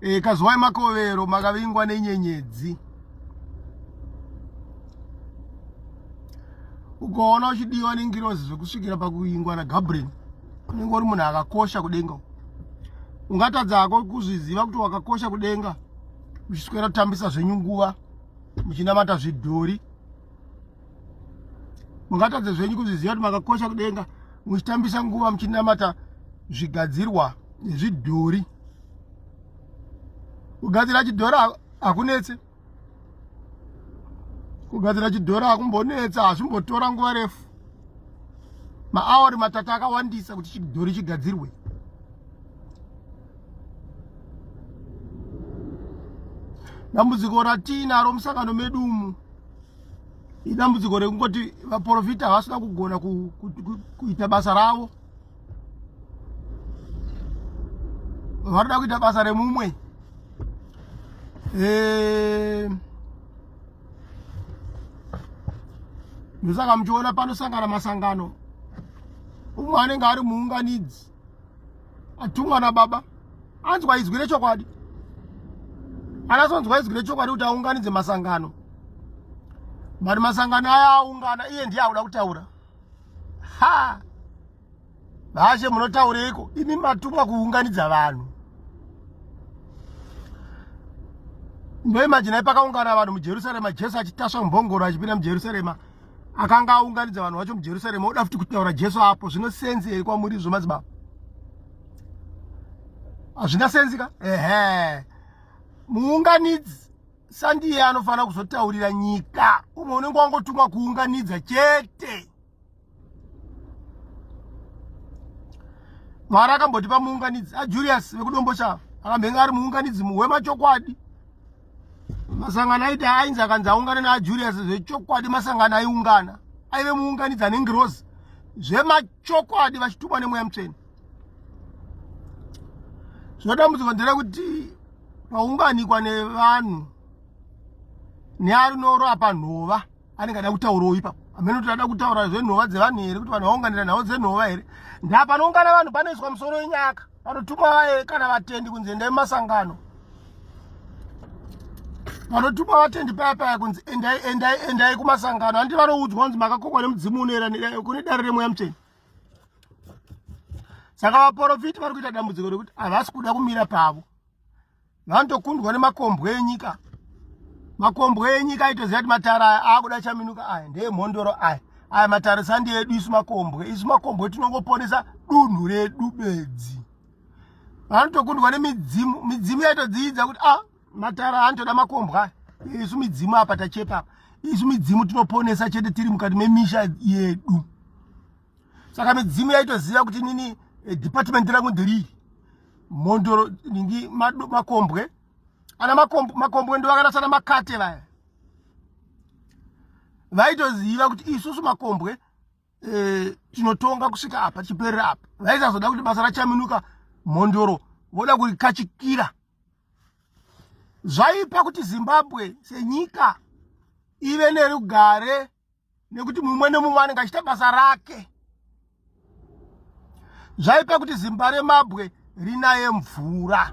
e, kazwai makovero makavingwa nenyenyedzi ukaona uchidiwa nengirozi zvekusvikira pakuingwa nagabriel unenge uri munhu akakosha kudenga ungatadza hako kuzviziva kuti wakakosha kudenga muchiswera kutambisa zvenyu nguva muchinamata zvidhori mungatadze zvenyu kuzviziva kuti makakosha kudenga muchitambisa nguva muchinamata zvigadzirwa nezvidhori kugadzira chidhora hakunetse kugadzira chidhora hakumbonetsa hazvimbotora nguva refu maaori matatu akawandisa kuti chidhori chigadzirwe dambudziko ratiinaro musangano medu umu idambudziko rekungoti vaprofita havasina kugona kuita basa ravo varida kuita basa remumwe eh, ndosaka muchiona panosangana masangano umwe anenge ari muunganidzi atumwa nababa anzwa izwi rechokwadi anasonzwa izwi rechokwadi kuti aunganidze masangano but masangano aya aungana iye ndiye akuda kutaura ha vashe munotaureiko imi matumwa kuunganidza vanhu ndoimajinai pakaungana vanhu mujerusarema jesu achitasva mumbongoro achipinda mujerusarema akanga aunganidza vanhu vacho mujerusarema oda futi kutaura jesu apo zvino senzi here kwamuri izvo madzibaba hazvina senzi ka ehe muunganidzi sandiye anofanira kuzotaurira nyika umwe unenge wangotumwa kuunganidza chete mwari akamboti pamuunganidzi ajulius vekudombo chavo akambenge ari muunganidzi wemachokwadi masangano aiti ainzi akanzi aungane naajulius zvechokwadi masangano aiungana aive muunganidzi anengirozi zvemachokwadi vachitumwa nemweya mutsveni zvinodambudziko nderekuti paunganikwa nevanhu nearinoro apa nhova anenge ada kutauroi ipapo amene kuti ada kutaura zvenhova dzevanhu here kuti vanhu vaunganira nhau dzenhova here ndapanoungana vanhu panoiswa musoro wenyaka vanotumwa vaye kana vatendi kunzi endai mumasangano vanotumwa vatendi paya paya kunzi endai endai endai kumasangano handi vanoudzwa kunzi makakokwa nemudzimu unoera kune dare remweya mutsveni saka vaporofiti vari kuita dambudziko rekuti havasi kuda kumira pavo vanotokundwa nemakombwe enyika makombwe enyika aitoziva kuti matara aya aakuda chaminuka aya ndeemhondoro aya aya matara sandi edu isu makombwe isu makombwe tinongoponesa dunhu redu bedzi vanotokundwa nemidzimu midzimu yaitodziidza kuti a ah, matara anotoda makombwa isu midzimu apa tachepa isu midzimu tinoponesa chete tiri mukati memisha yedu saka midzimu yaitoziva kuti nini eh, department rangu nderiri mhondoro ningi makombwe ana makombwe ndo vakarasa na makate vaya vaitoziva kuti isusu makombwe eh, tinotonga kusvika apa tichiperera apa vaisazoda kuti basa rachaminuka mhondoro voda kurikachikira zvaipa kuti zimbabwe senyika ive nerugare nekuti mumwe nemumwe anenge achita basa rake zvaipa kuti zimba remabwe rinaye mvura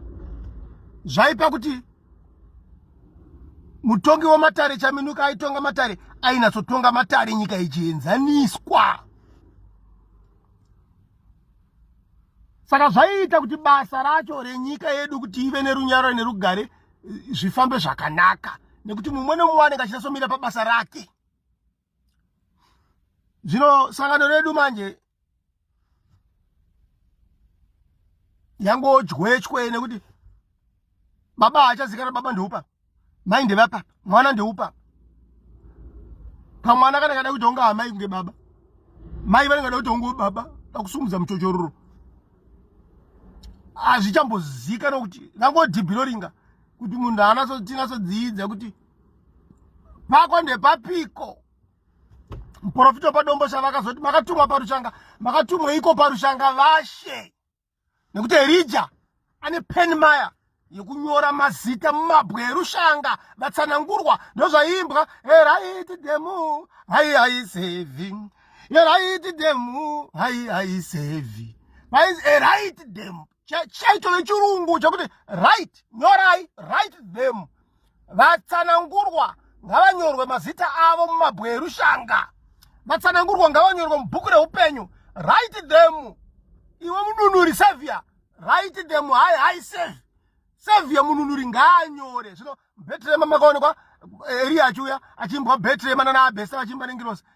zvaipa kuti mutongi wematare chaminuka aitonga matare ainatsotonga matare nyika ichienzaniswa saka zvaiita kuti basa racho renyika yedu kuti ive nerunyararo nerugare eh, zvifambe zvakanaka nekuti mumwe nomumwe anenge achinatsomira pabasa rake zvino sangano redu manje yangodywetywe nekuti baba hachazikana baba ndoupa mai ndevapa mwana ndeupa pamwana kana kada kuti onga amai kunge baba mai vanenge vada kuti onge baba pakusumudza muchochororo hazvichambozikana kuti rangodhibhiroringa kuti munhu anatinasodziidza kuti pako ndepapiko muprofita wepadombo sha vakazoti makatumwa parushanga makatumwa iko parushanga vashe nekuti erija ane pen maya yekunyora mazita mumabwe erushanga vatsanangurwa ndozvaiimbwa eraiti demu hai haisevi eraiti demu hai haisevi mainzi eraiti demu chaitove chirungu chekuti right nyorai right demu vatsanangurwa ngavanyorwe mazita avo mumabwe erushanga vatsanangurwa ngavanyorwe mubhuku reupenyu write them iwe mununuri savior write them hai hai save savior mununuri ngaanyore zvino betrema makaonekwa eh, eriya achiuya achiimbwa betrema nanaabhesta vachiimba nengirosi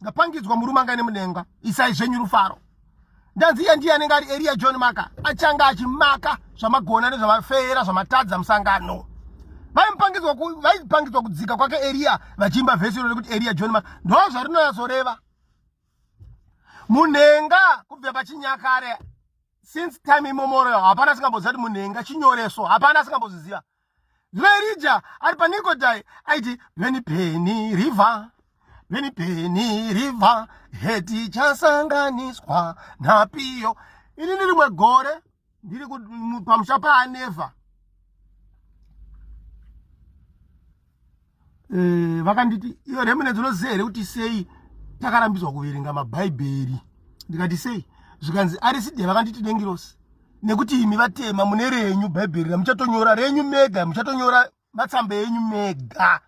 ndapangidzwa murume anga ine mudenga isai zvenyu rufaro ndanzi iye ndiye anenge ari eria john maka achanga achimaka zvamagona nezvamafeera zvamatadza musangano vaipangidzwa kudzika kwake eria vachiimba vhesi iro rekuti eria john maka ndo zvarinonyatsoreva munhenga kubva pachinyakare since time imomoreo hapana asingamboziva kuti munhenga chinyoreso hapana asingamboziziva Verija ari paNikodai aiti Beni Beni River Beni Beni River heti chasanganiswa napiyo ini ni rimwe gore ndiri pamusha paanevha eh, vakanditi e, iyo remnants unoziva here kuti sei takarambidzwa kuverenga mabhaibheri ndikati sei zvikanzi ariside vakanditi dengirosi nekuti imi vatema mune renyu bhaibheri ramuchatonyora renyu mega muchatonyora matsamba enyu mega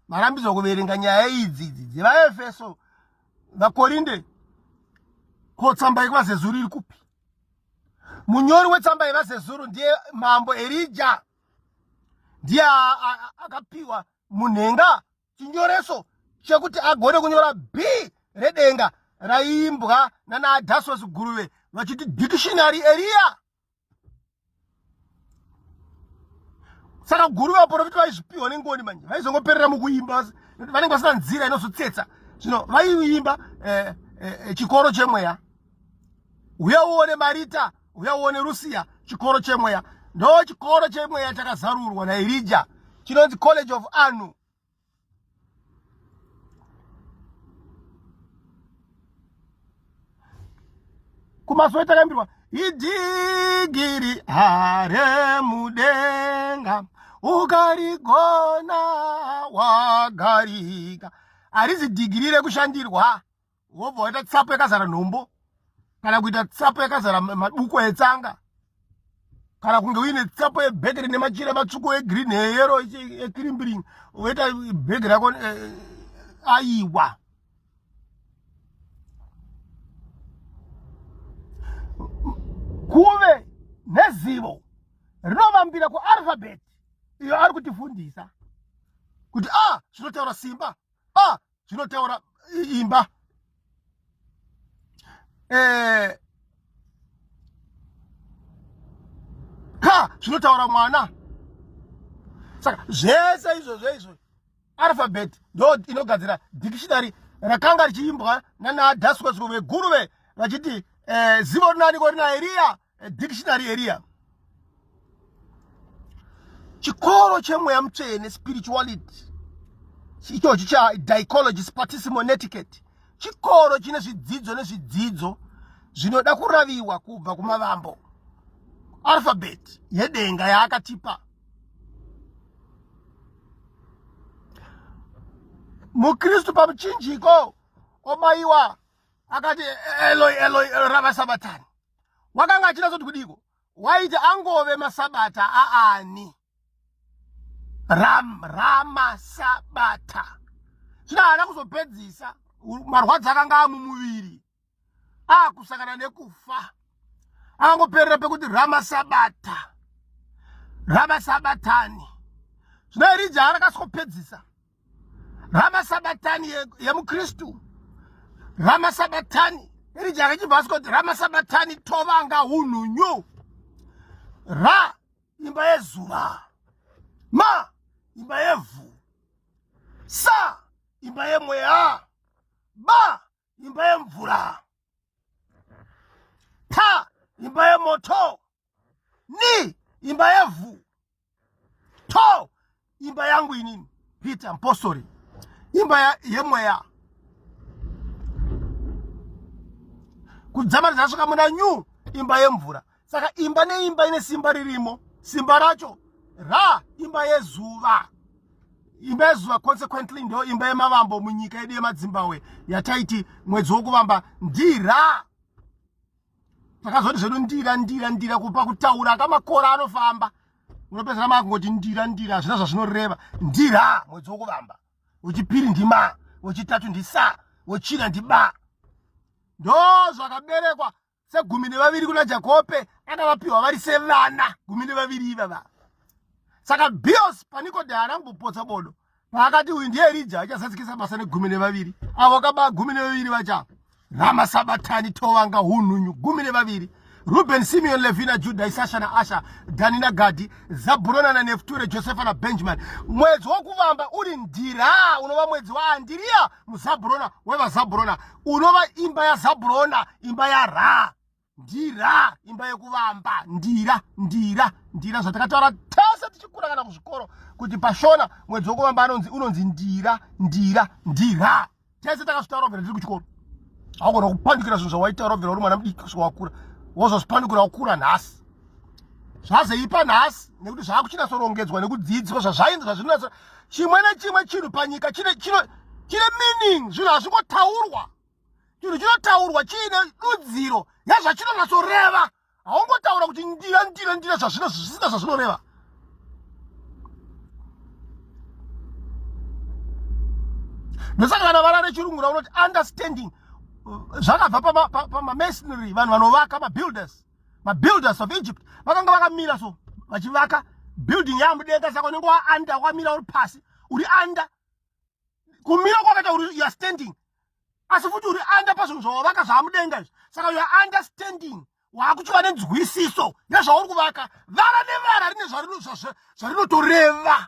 marambidzwa kuverenga nyaya idzi idzi dzevaefeso vakorinde ko tsamba yekuvazezuru iri kupi munyori wetsamba yevazezuru ndiye mambo erija ndiye akapiwa munhenga chinyoreso chekuti agone kunyora b redenga raiimbwa nanaadhasos guruve vachiti dictionary eriya saka guru vaporofita vaizvipiwa nengoni manje vaizongoperera mukuimba vanenge vasina nzira inozotsetsa zvino vaiimba eh, eh, eh, chikoro chemweya uye uone marita uye uone rusiya chikoro chemweya ndo chikoro chemweya chakazarurwa nairija chinonzi college of anu kumasowe takambirwa idigiri hare mudenga ukarigona wagarika harizi dhigiri rekushandirwa wobva waita tsapo yakazara nhombo kana kuita tsapo yakazara maduku etsanga kana kunge uine tsapo yebhegere nemachira matsvuku egreen eyero ekrimbiring woita bhege rako eh, aiwa kuve nezivo rinovambira kuarfabet iyo ari kutifundisa kuti a ah, zvinotaura simba a ah, zvinotaura imba eh, ka zvinotaura mwana saka zvese izvozvo izvo alphabet ndo inogadzira dictionary rakanga richiimbwa nanaadaswesro veguruve vachiti eh, zivo rinaniko rinairiya A dictionary area. Chikoro chemweya mutsvene spirituality ichochi cha dichology spartissimo netiquette chikoro chine zvidzidzo nezvidzidzo zvinoda kuraviwa kubva kumavambo alphabet yedenga yaakatipa mukristu pamuchinjiko obayiwa akati eloi eloi rava sabatani wakanga achida zoti kudiko waiti angove masabata aani ram ramasabata zvino haana kuzopedzisa marwadzi akanga amumuviri akusangana nekufa angoperera pekuti ramasabata ramasabatani zvino irija arakasopedzisa ramasabatani yemukristu ye ramasabatani iri jaka chibva asi kuti ramasabatani tovanga unhunyu ra imba yezuva ma imba yevhu sa imba yemweya ba imba yemvura ta imba yemoto ni imba yevhu to imba yangu inini peter mpostori imba yemweya kudzamara dzasvika muna new imba yemvura saka imba neimba ine simba ririmo simba racho ra imba yezuva imba yezuva consequently ndo imba yemavambo munyika yedu yemadzimbabwe yataiti mwedzi wokuvamba ndira takazoti zvedu ndira ndira ndira kupa kutaura akamakora anofamba unopedzera makungoti ndira ndira hazvina zvazvinoreva ndira mwedzi wokuvamba wechipiri ndima wechitatu ndisa wechina ndiba ndo zvakaberekwa segumi nevaviri kuna jakope akavapiwa vari sevana gumi nevaviri ivava saka bios paniko de haana kumbopotsa bodo Vakati uyu ndiye Rija achazadzikisa basa negumi nevaviri avo kaba gumi nevaviri vacha Rama Sabatani Tovanga Hununyu gumi nevaviri Ruben Simeon Levina Juda Isasha na Asha Dani na Gadi Zaburona na Nefture Josefa na Benjamin mwedzi wokuvamba uri ndira unova mwedzi waandiriya muzaburona wevazaburona unova imba yazaburona imba ya Ra ndira imba yekuvamba ndira ndira ndira zvatakataura tese tichikura kana kuzvikoro kuti pashona mwedzi wekuvamba anonzi unonzi ndira ndira ndira tese takazvitaura vhera tiri kuchikoro haugona kupandukira zvinhu zvawaitaura vhera uri mwana mudiki kusvika wakura wozozvipandukira wakura nhasi zvazeipa nhasi nekuti zvaakuchinatsorongedzwa nekudzidziswa zvazvainzi zvazvinonatsa chimwe nechimwe chinhu panyika chine chine chine meaning zvinhu hazvingotaurwa chinhu chinotaurwa chiine dudziro yazvachinonatsoreva haungotaura kuti ndira ndira ndira zvazvino zvisina zvazvinoreva ndosaka kana vara rechirungu raunoti understanding zvakabva pamamasonry vanhu vanovaka mabuilders mabuilders of egypt vakanga vakamira so vachivaka building yamudenga saka unenge waanda wakamira uri pasi uri under kumira kwakaita uri youare standing asi futi uri under pazvinhu zvawavaka zvaamudenga izvi saka youare understanding waakuchiva nenzwisiso nezvauri kuvaka vara nevara rine zvarinotoreva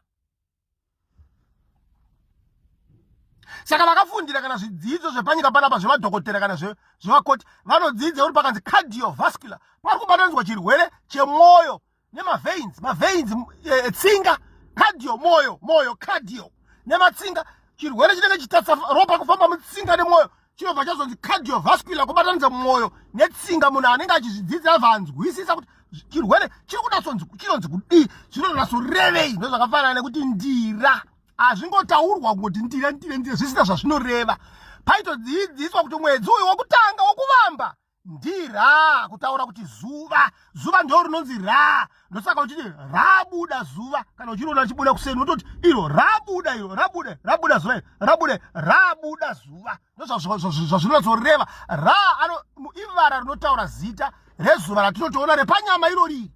saka vakafundira kana zvidzidzo zvepanyika panapa zvemadhokotera kana zvevakoti vanodzidza uri pakanzi cardiovascular pari kubatanzwa chirwere chemwoyo nemaveins maveins eh, tsinga cardio moyo moyo cardio nematsinga chirwere chinenge chitatsa ropa kufamba mutsinga nemwoyo chinobva chazonzi cardiovascular kubatanidza mwoyo netsinga munhu anenge achizvidzidzira vanzwisisa kuti chirwere chiri kunasonzi chinonzi kudii zvinonasorevei ndozvakafanana nekuti ndira hazvingotaurwa kungoti ndira ndira ndira zvisina zvazvinoreva paitodzidziswa kuti mwedzi uyu wokutanga wokuvamba ndi ra kutaura kuti zuva zuva ndo rinonzi ra ndosaka uchiti rabuda zuva kana uchiriona richibuda kuseni unototi iro rabuda iro rabude rabuda zuva rabude rabuda zuva ndozvazvinonatsoreva ra ano ivara rinotaura zita rezuva ratinotoona repanyama iro riri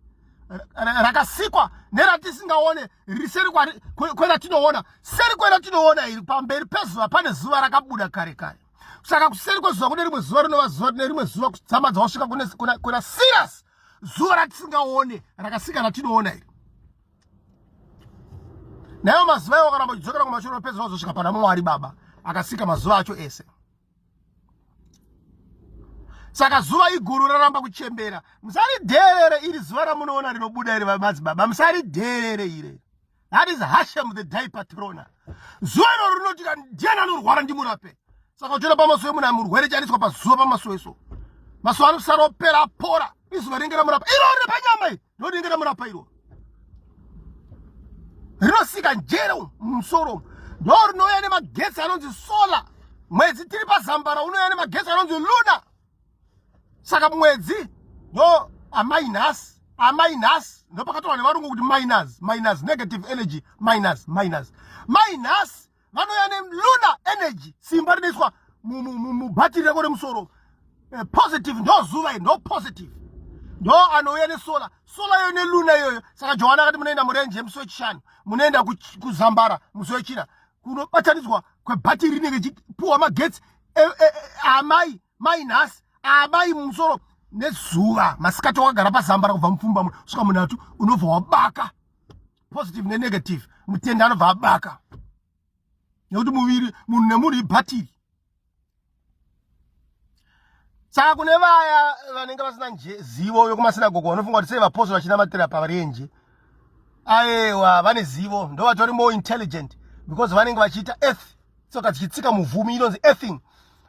rakasikwa neratisingaone riri seri kweratinoona seri kweratinoona iri pamberi pezuva pane zuva rakabuda kare kare saka kuseri kwezuva kune rimwe zuva rinova zuva rine rimwe zuva kudzama dzawasvika kuna siras zuva ratisingaone rakasika ratinoona iri naivo mazuva iwo akaramba uchidzokera kumashure opedzera kuzosvika pana mwari baba akasika mazuva acho ese saka zuva iguru raramba kuchembera musaridheerere iri zuva ramunoona rinobuda iri vamadzibaba musaridheerere ire that is hashem the day patrona zuva iroro rinoti ka ndiani anorwara ndimurape saka uchiona pamaso emunhu amurwere chaniswa pazuva pamaso eso maso anosara opera apora izuva rinenge ramurapa iro rine panyama iri ndo rinenge ramurapa iro rinosika njere musoro ndo rinouya nemagetsi anonzi solar mwedzi tiri pazambara unouya nemagetsi anonzi luna saka mwedzi no amai nhasi amai nhasi ndopakataura nevarungu kuti minus minus negative energy minus minus mai nhasi vanouya neluna energy simba rinoiswa mubhatiri rako remusoro eh, positive ndo zuva ndo positive ndo anouya nesola sola iyoyo neluna iyoyo saka johani akati munoenda murenje musi wechishanu munoenda kuzambara musi wechina kunobatanidzwa kwebhatiri rinenge chipuwa magetsi e, e, e, amai mai nhasi amai mumusoro nezuva masikati wakagara pazambara kubva mupfumba muno svika munhatu unobva wabaka positive nenegative mutenda anobva abaka nekuti muviri munhu nemunhu ibhatiri saka kune vaya vanenge vasina zivo vekumasinagogo vanofunga kuti sei vapostori vachinamatira parenje aewa vane zivo ndo vatori more intelligent because vanenge vachiita earth tsoka dzichitsika muvhumi inonzi earthing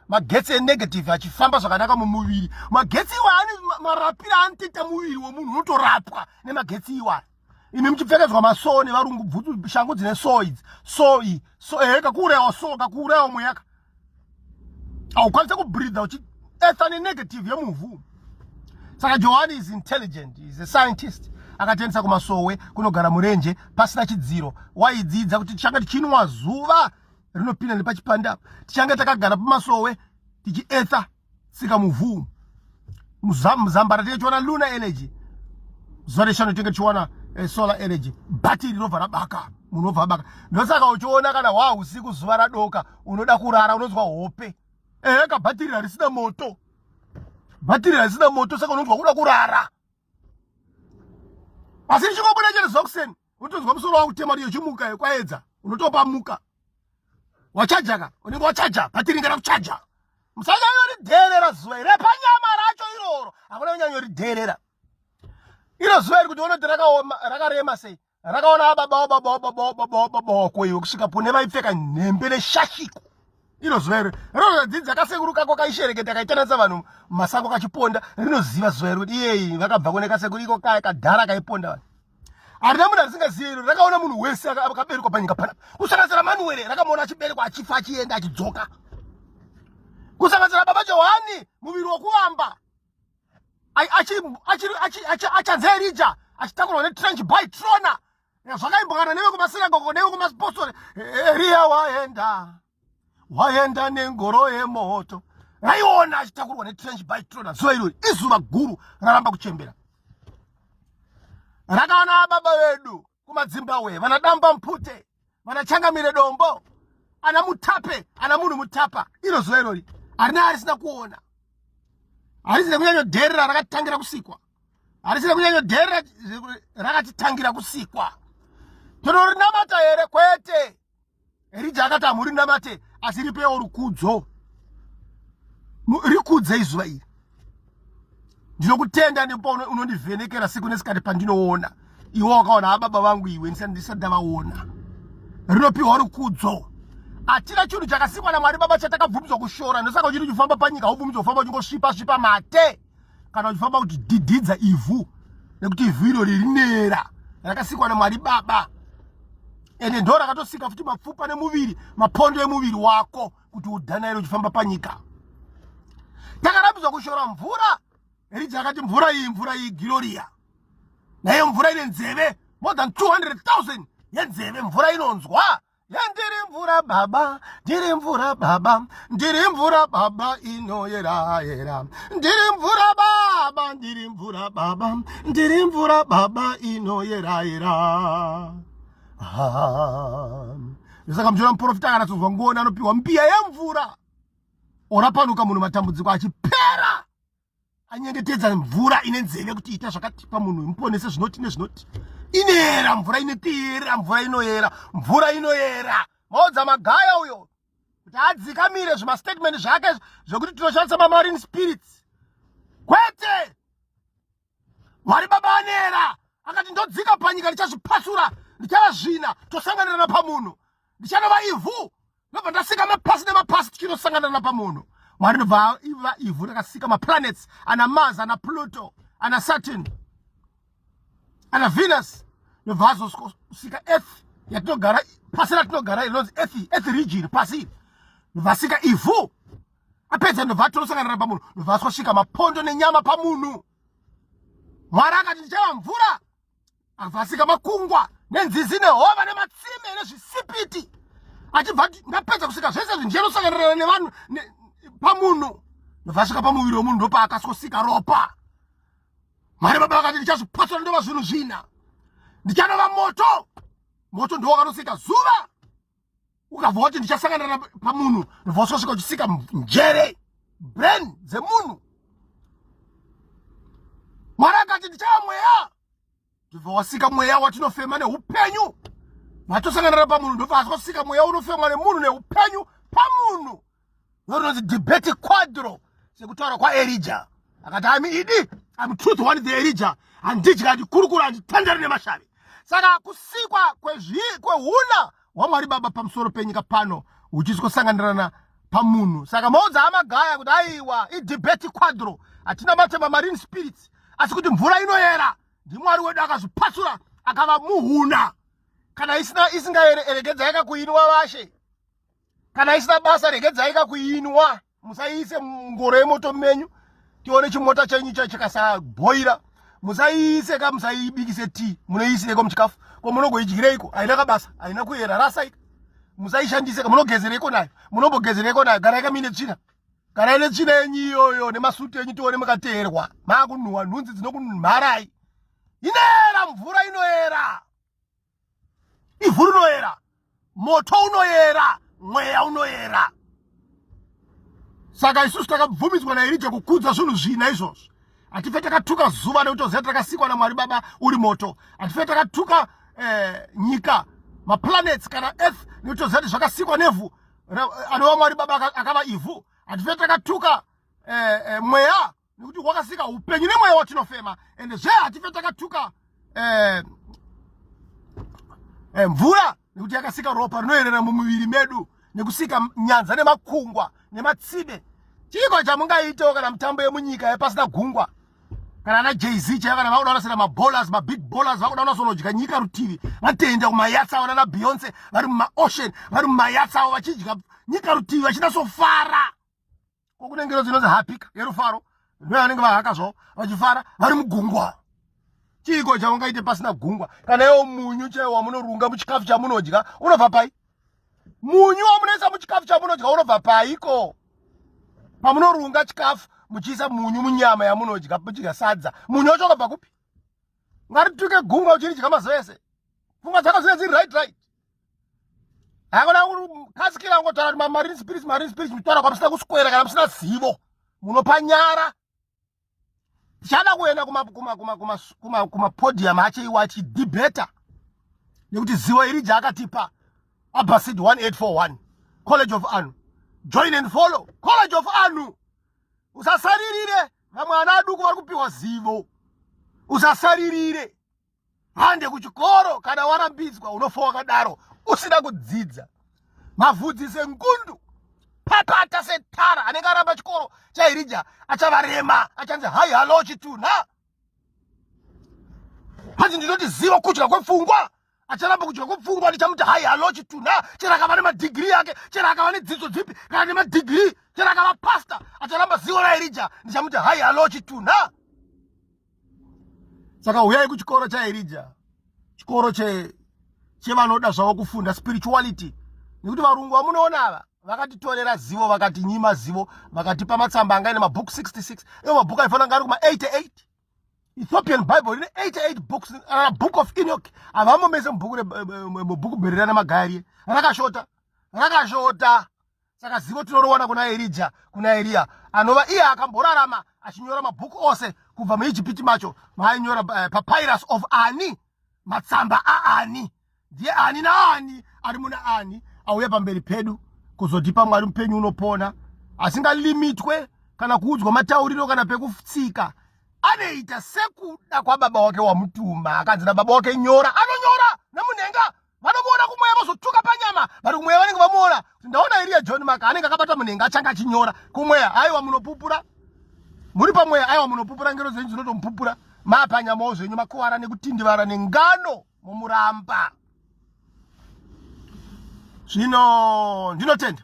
magetsi enegative achifamba zvakanaka mumuviri magetsi iwa ane marapiro anotoita muviri wemunhu unotorapwa nemagetsi iwaya imi muchipfekedzwa masoo nevarungu bvutu shangu dzine soo idzi soo iyi so ehe kakuurayawo soo kakuurayawo mweyaka haukwanise kubridha uchi etha nenegative yemuvhu saka johani is intelligent is a scientist akatendisa kumasowe kunogara murenje pasina chidziro waidzidza kuti tichange tichinwa zuva rinopinda nepachipanda tichange takagara pamasowe tichietha tsika muvhu muzambara tichiona luna energy zuva reshanu tinge tichiona eh, solar energy bhatiri rinobva rabaka munhu obva abaka ndosaka uchiona kana waa usiku zuva radoka unoda kurara unonzwa hope ehe ka bhatiri harisina moto bhatiri harisina moto saka unonzwa kuda kurara asi richingobuda chete zokuseni unotonzwa musoro wangu kutema kuti yochimuka yekwaedza unotopa muka wachajaka unenge wachaja bhatiri ngera kuchaja musanyanyoridherera zuva iri panyama racho iroro hakuna kunyanyoridherera iro zuva iri kuti unoti rakarema sei rakaona ababawo babawo babawo babawo babawo koiwe kusvika pune vaipfeka nhembe neshashiko iro zuva iri rinozadzidza kasekuru kako kaishereketa kaitanatsa vanhu masango kachiponda rinoziva zuva iri kuti iyeyi vakabva kune kasekuru iko kaya kadhara kaiponda vanhu harina munhu arisingazive iro rakaona munhu wese akaberekwa panyika panapa kusanganisira manuwere rakamuona achiberekwa achifa achienda achidzoka kusanganisira baba johani muviri wokuvamba achanzi erija achitakurwa netrench by trona zvakaimbokana nevekumasinagogo nevekumaspostori eriya waenda waenda nengoro yemoto raiona achitakurwa netrench by trona zuva irori izuva guru raramba kuchembera rakaona baba vedu kumadzimbabwe vana damba mpute vana changamire dombo ana mutape ana munhu mutapa iro zuva irori harina arisina kuona harisina kunyanyodherera rakatangira kusikwa harisina kunyanyodherera rakatitangira kusikwa tinorinamata here kwete Erija akati hamuri namate asi ripewo rukudzo rikudze izuva iri ndinokutenda nepo unondivhenekera siku nesikati pandinoona iwe wakaona hababa ah, vangu iwe ndisati ndavaona rinopiwa rukudzo hatina chinhu chakasikwa namwari baba chatakabvumidzwa kushora ndosaka uchiti uchifamba panyika ubvumidzwa kufamba uchingosvipa svipa mate kana uchifamba kuti dididza ivhu nekuti ivhu iro ririnera rakasikwa namwari baba ende ndo rakatosika futi mapfupa nemuviri mapondo emuviri wako kuti udana iro uchifamba panyika takarambidzwa kushora mvura erija yakati mvura iyi mvura iyi giloria naiyo mvura ine nzeve more than 200 000 yenzeve mvura inonzwa Ndiri mvura baba, ndiri mvura baba, ndiri mvura baba inoyera yera. Ndiri mvura baba, ndiri mvura baba, ndiri mvura baba inoyera yera. Ah. Saka mjora muprofita kana tozwa ngoni anopiwa mbiya yemvura. Orapanuka munhu matambudziko achipera. anyengetedza mvura ine nzeve kuti ita zvakati pamunhu muponese zvinoti nezvinoti inoyera mvura inotiera mvura inoyera mvura inoyera maodza magaya uyo kuti adzikamire zvimastatement zvake zvekuti tinoshandisa mamarine spirits kwete mwari baba anera akati ndodzika panyika ndichazvipasura ndichavazvina tosanganirana pamunhu ndichanovaivu ndobva ndasika mapasi nemapasi tichinosangana napamuno mwari ndobva iva ivhu rakasika maplanets ana mars ana pluto ana saturn ana venus ndobva azosika earth yatinogara pasi ratinogara inonzi earth earth region pasi ndobva asika ivhu apedza ndobva atinosangana napamunhu ndobva asosvika mapondo nenyama pamunhu mwari akati ndichava mvura avasika makungwa nenzizi nehova nematsime nezvisipiti achibva ati ndapedza kusika zvese zvinjenosanganirana nevanhu pamunhu ndovasvika pamuviri wemunhu ndopaakasosika ropa mwari baba vakati ndichazvipasana ndova zvinhu zvina ndichanova moto moto ndowakanosiita zuva ukabva wati ndichasangana pamunhu ndivososvika uchisika njere brain dzemunhu mwari akati ndichava mweya ndibva wasika mweya watinofema neupenyu matosangana pamunhu ndobva asosika mweya unofemwa nemunhu neupenyu pamunhu Rononzi debate quadro sekutaura kwaElija. Akati I'm idi, I'm truth one the Elija. Handidya handikurukura handitandari nemashavi. Saka kusikwa kwehuna hwaMwari Baba pamusoro penyika pano huchisi kusanganirana pamunhu. Saka maudza amagaya kuti aiwa idebate quadro hatina matema marine spirits asi kuti mvura inoyera ndimwari wedu akazvipasura akava muhuna kana isina isingaeregedza yakakuinwa vashe kana isina basa regedzai ka kuinwa musaiise mungoro yemoto menyu tione chimota chenyu cha chikasabhoira musaiise ka musaibikise tii munoiisireko muchikafu ko munogoidyireiko haina kabasa haina kuyera rasaika musaishandiseka munogezereko nayo munombogezereko nayo garai kamine tsvina garai netsvina yenyu iyoyo nemasuti enyu tione mukateerwa maakunhuwa nhunzi dzinokunharai inoera mvura inoera ivhu rinoyera moto unoyera mweya unoyera saka isusu takabvumidzwa nairija kukudza zvinhu zvina izvozvo hatife takatuka zuva nekuti oziva takasikwa namwari baba uri moto hatife takatuka eh, nyika maplanets kana earth nekuti oziva kuti zvakasikwa nevhu anova mwari baba akava ivhu hatife takatuka eh, eh, mweya nekuti wakasika upenyu nemweya watinofema ende zve hatife takatuka eh, eh, mvura nekuti yakasika ropa rinoerera mumuviri medu nekusika nyanza nemakungwa nematsime chiiko chamungaitewo kana mitambo yemunyika yepasina gungwa kana ana jz chaiva kana vakuda kunasira mabolas mabig bolas vakuda kunasonodya nyika rutivi vatoenda kumayatsi avo nana beyonce vari mumaocean vari mumayatsi avo vachidya nyika rutivi vachinasofara ko kune ngero dzinonzi hapika yerufaro ndoyanenge vahaka zvavo vachifara vari mugungwa chiiko chaungaite pasina gungwa kana iwo munyu chaiwo wamunorunga muchikafu chamunodya unobva pai munyu wamunoisa muchikafu chamunodya unobva paiko pamunorunga chikafu muchiisa munyu munyama yamunodya muchidya sadza munyu wacho unobva kupi ngarituke gungwa uchinidya mazuva ese pfungwa dzako dzine dziri right right hakuna kasikira kungotaura kuti mamarine spirits marine spirits muchitaura kwamusina kuswera kana musina zivo munopanyara tichada kuenda kumapodium ache iwo achidebata nekuti zivo iri jaakatipa abasid 1841 college of anu join and follow college of anu usasaririre vamwe ana aduku vari kupiwa zivo usasaririre hande kuchikoro kana warambidzwa unofa wakadaro usina kudzidza mavhudzi sengundu patata setara anenge aramba chikoro chairija achavarema achanzi hai halo chitunha hanzi ndinoti ziva kudya kwepfungwa acharamba kudya kwepfungwa ndichamuti hai halo chitunha chero akava nemadhigiri yake chero akava nedzidzo dzipi kana nemadhigiri chero akava pasta acharamba zivo rairija ndichamuti hai halo chitunha saka huyai kuchikoro chaerija chikoro chevanoda zvavo kufunda spirituality nekuti varungu vamunoona ava vakatitorera zivo vakati nyima zivo vakatipa matsamba angaine mabhuku 66 ivo mabhuku aifanira nga ari kuma 88 ethiopian bible rine 88 books uh, book of enoch havamomese mubhuku mubhuku bhererana magariye rakashota rakashota saka zivo tinorowana kuna erija kuna eriya anova iye akamborarama achinyora mabhuku ose kubva muijipiti macho maainyora uh, eh, papyrus of ani matsamba aani ndiye ani naani ari muna ani auya pamberi pedu kuzotipa mwari mupenyu unopona asingalimitwe kana kuudzwa matauriro kana pekutsika anoita sekuda kwababa wake wamutuma akanzi nababa wake nyora anonyora nemunhenga vanomuona kumweya vozotuka panyama vari kumweya vanenge vamuona kuti ndaona iriya john maka anenge akabata munenge achanga achinyora kumweya aiwa munopupura muri pamweya aiwa munopupura ngero dzenyu dzinotomupupura mapanyamawo zvenyu makuvara nekutindivara nengano mumuramba zvino ndinotenda